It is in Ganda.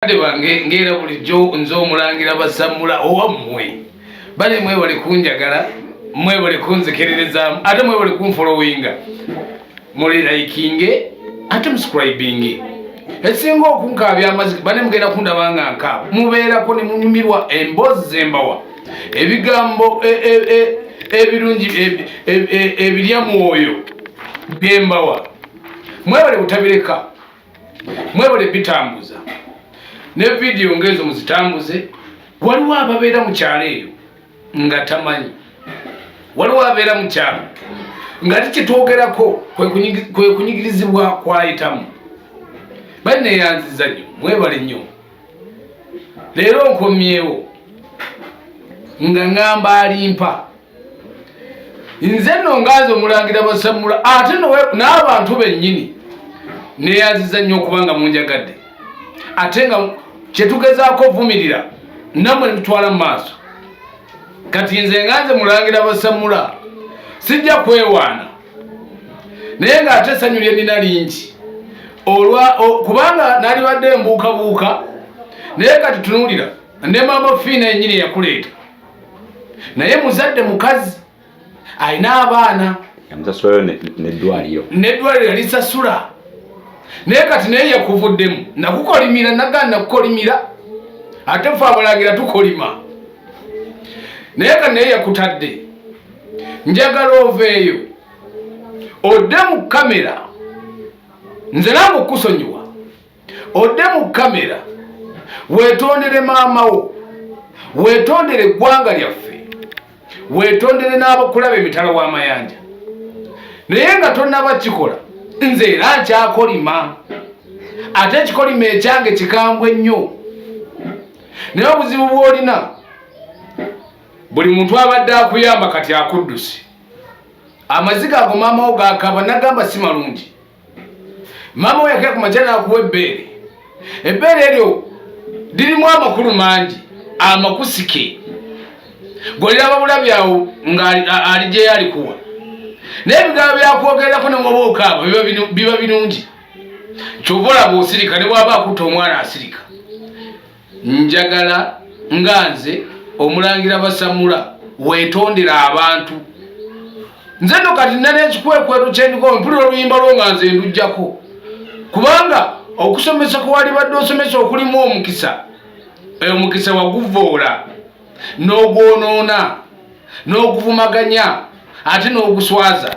bakadde bange ng'era bulijjo nze omulangira basammula owammwe bale mwebale kunjagala mwebale kunzikiririzaamu ate mwebale kunfolowinga mulirayikinge ate muscribinge esinga okunkaabya amaziki bane mugenda kundaba nga nkaaba mubeerako ne munyumirwa emboozi zembawa ebigambo e, e, e, ebirungi ebirya mwoyo byembawa mwebale butabireka mwebale bitambuza ne vidiyo ngaezo muzitambuze waliwo ababeera mu kyalo eyo nga tamanyi waliwo abeera mu kyalo nga ti kyetwogerako kwe kunyigirizibwa kwayitamu bali neyanziza nyo mwebale nnyo leero nkomyewo nga ngamba alimpa nze nno nganze omulangira basammula ate n'abantu bennyini neyanziza nnyo okuba nga munjagadde ate nga kyetugezaako ovumirira namwe nemutwala mu maaso kati nze nganze mulangira basammula sijja kwewaana naye ng'ate essanyu lye nina lingi olwa kubanga nalibadde embuukabuuka naye kati tunuulira ne maama fiina yennyini eyakuleeta naye muzadde mukazi alina abaana yamusasulayo neddwaliro neddwaliro yalisasula naye kati naye yakuvuddemu nakukolimira nagana nakukolimira ate fe abalagira tukolima naye kati naye yakutadde njagala oveeyo odde mu kamera nze nange okukusonyiwa odde mu kamera wetondere maama wo wetondere eggwanga lyaffe wetondere n'abakulaba emitala w'amayanja naye nga tonaba kikola nze era nkyakolima ate ekikolima ekyange kikambwe nnyo naye obuzibu bwolina buli muntu abadde akuyamba kati akuddusi amaziga ago maamawo gakaba nagamba si malungi maama we yakera ku makya n'akuwa ebbeere ebbeere eryo lirimu amakulu mangi amakusike goliraba bulabi awo ng'ali gye yalikuwa naye ebigambo byakwogererako ne waba okaaba biba birungi kyova olaba osirika ne bwaba akutta omwana asirika Njagala nga nze omulangira basamula wetondera abantu nze no kati nali ekikwekweto kyendigo mpulira oluyimba lwo nga nze ndujjako kubanga okusomesa kwewalibadde osomesa okulimu omukisa oyo mukisa waguvoola n'ogwonoona n'oguvumaganya ate n'oguswaza